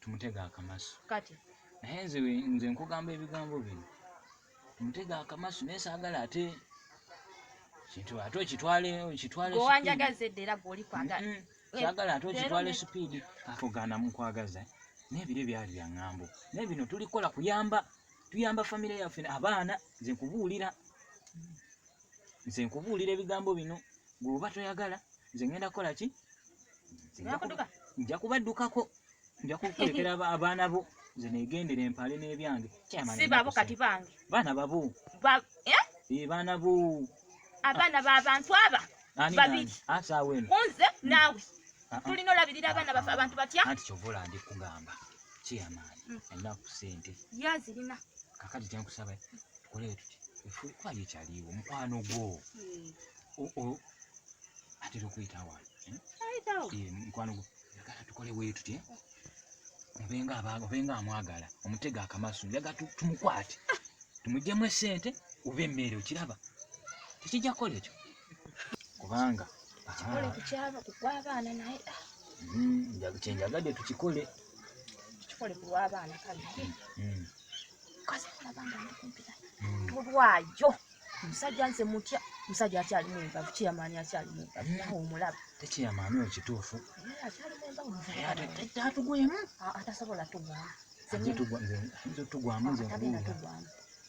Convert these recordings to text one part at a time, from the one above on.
tumutega akamasu kati naye nze nze nkugamba ebigambo bino tumutega akamasu naye saagala ate kintu ate okitwale okitwale gwewanjagaza edda era gweoli kwagala mm -hmm. saagala ate okitwale sipiidi akugana mukwagaza naye biro byali bya ŋŋambo naye bino tulikola kuyamba tuyamba famire yaffe abaana nze nkubuulira mm -hmm. nze nkubuulira ebigambo bino gweoba toyagala nze ngenda kukola ki nja kubaddukako nja kukulekera abaana bo nze negendera empale n'ebyange sibabo kati bange baana babo eh? Eh, baana bo abaana babantu aba babiri kunze naawe ah, ah. tulina olabirira abaana baffe ah, abantu batya anti kyova olandi kugamba kyeyamaani mm. alina ku sente ye azirina kakati kyenkusaba tukoleyo tuti efuukwali ekyaliwo mukwano gwo mm. atera okuyita wano eh? eh, mukwano gwo yagala tukole wetutye eh? obenga abaga obenga amwagala omutega akamasu yaga tumukwate tumujjemu esente oba emmere okiraba tekijja kukola ekyo kubanga tukikole kukyaba kugwabaana naye ah. hmm, kyenjagadde tukikole tukikole kulwabaana kale hmm, hmm. kazi kulabanga ndi kumpira tulwayo musajja nze mutya musajja akyalimu embavu kiyamaani akyalimu embavu nawe omulaba tekiyamaani oyo kituufu akyalimu embavu atugwemu atasobola tugwamu nze tugwamu nze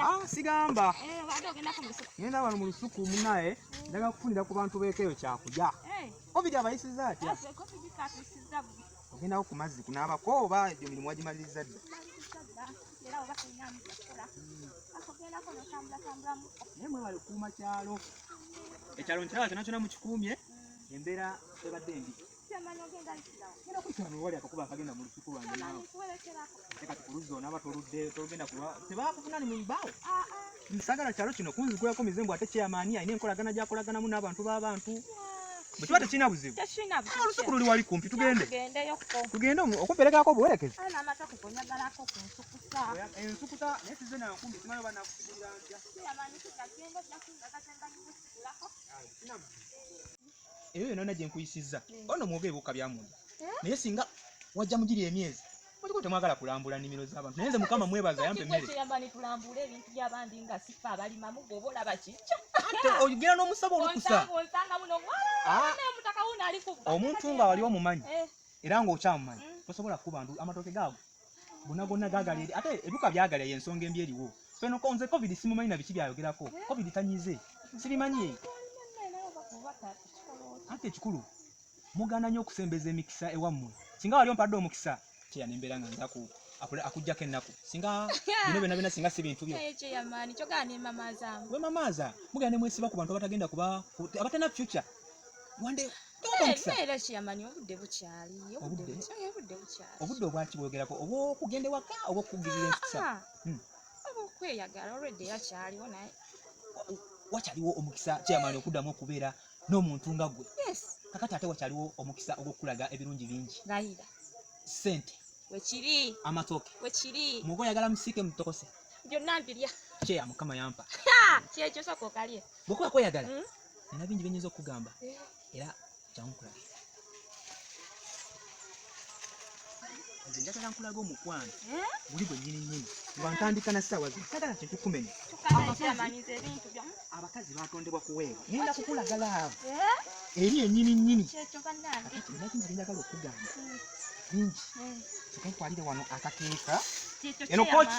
Ah, sigamba eh, ngenda wano mu lusuku munaye ndaga kufunira ku bantu bekeyo kyakulya eh. covid abayisiza atya ogendako ku mazzi kunaabako oba egyo mirimu wagimaliriza dda naye mwebale kuuma kyalo ekyalo nkiraba kyona kyona mukikuumye embeera ebadde embi wali akakuba akagenda mu lusuku lwange naawe kati ku luzzi onaaba toludde tolugenda kuba tebakufuna ni mubaawo ah, ah. sagala kyalo kino kunzigulako mize mbu ate kyeyamaani alina enkolagana gyakolaganamu n'abantu b'abantu bwe kiba tekirina buzibu ah, olusuku luli wali kumpi tugende tugende okumperekerako obuwerekezi ensukuta naye size nankumbi simanyi oba nakusigulira ntya eyo yona yona gyenkuyisizza ono mwogere bukka byamunda eh? naye singa wajja mugiri emyezi muliko temwagala kulambula nimiro zabantu naye nze mukama mwebaza yampa emmereogera nomusaba olukusa ah. omuntu nga wali omumanyi eh. era ngaokyamumanyi mm. tosobola kukuba amatooke gaago gona gona gagala eri ate ebiwuka byagala yensonga embi eriwo feno konze covid simumanyi na biki byayogerako covid tanyize sibimanyi ate ekikulu mugana nyo okusembeza emikisa ewammwe singa wali ompadde omukisa kyeya nembeera nga nzaku akujjako ennaku singa bino byona byona singa si bintu byo wemamaaza mugenda nemwesiba ku bantu abatagenda kuba abatana future wande obudde obwaki bwogerako obwokugenda ewaka oba okukugirira empisa ah, hmm. okweyagala olwedde yakyaliwo naye wakyaliwo omukisa kyamaani okuddamu okubeera n'omuntu nga gwe kakati ate wakyaliwo omukisa ogwokukulaga ebirungi bingi sente wekiri amatooke wekiri muga oyagala musiike mutokose byonna mbirya kyeya mukama yampa kyekyo soka okalye bwekuba kweyagala hmm? nina bingi bye nyinza okukugamba era kyangu kulabe nze njagala nkulaga omukwano eh? guli gwe nyini nyini nga ntandika na ssaawa zino sagala kintu kumenya abakazi batondebwa kuweebwa ngenda kukulagala abo eh? eri enyini nyini nakingi byenjagala okugamba hmm. bingi hmm. tukenkwalire wano akakeeka eno koki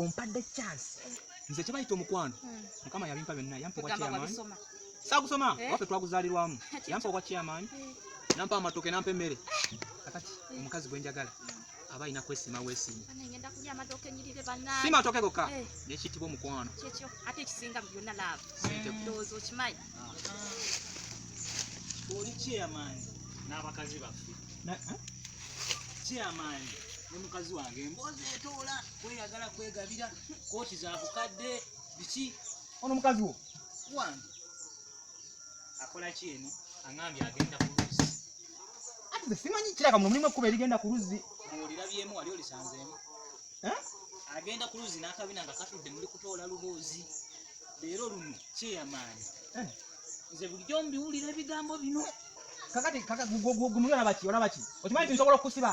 ompadde chance nze kyebayita omukwano hmm. mukama yabimpa byonna yampa obwa chairman saagusoma eh? waffe twaguzaalirwamu yampa obwa chairman hmm. nampa amatoke nampa emmere kakati hmm. omukazi gwe njagala aba alina kwesiima wesiima si matooke gokka eh. nekiyitibwa omukwano oli chairman n'abakazi baffe chairman ne mukazi wange emboozi etoola kweyagala kwegabira kooti za bukadde biki ono mukazi wo wange akola ki eno aŋambye agenda ku luzzi ati ze simanyi kiraka muno mulimu ekkuba erigenda ku luzzi olirabyemu wali olisanzeemu eh? agenda ku luzzi n'akabina nga katudde muli kutoola luboozi leero luno kyeyamaanyi eh? nze bulijjo mbiwulira ebigambo bino kakati kakagumulabaki olabaki okimanyi tinsobola okusiba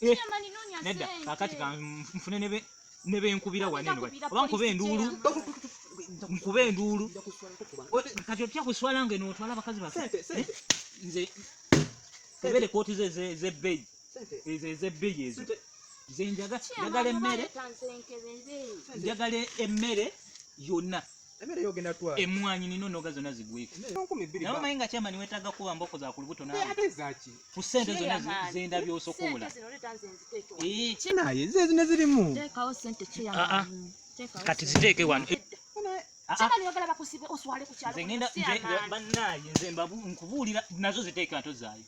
Eh, nedda kakati kanfune nebenkubira waneno oba nkuba enduulu nkuba enduulu kati otya kuswala nga eno otwala abakazi bafe eh, nze tebere kooti ze zebbeyi ezo ezebbeyi ezo nze njagala emmere njagala emmere yonna Emere yo genda twa. Emwanyi nino noga zona zigweke. Nawe mayi nga chama niwe taga kuwa mboko za kulubuto nawe. Ate zaki. Kusente zona zenda byo sokola. Eh, china ye zezi ne zilimu. Teka o sente chia. Ah ah. Teka. Kati ziteke wano. Ah, ah. Chama niwe gala bakusibe oswale ku chalo. Zengenda banna ye zembabu nkubulira nazo ziteke ato zayo.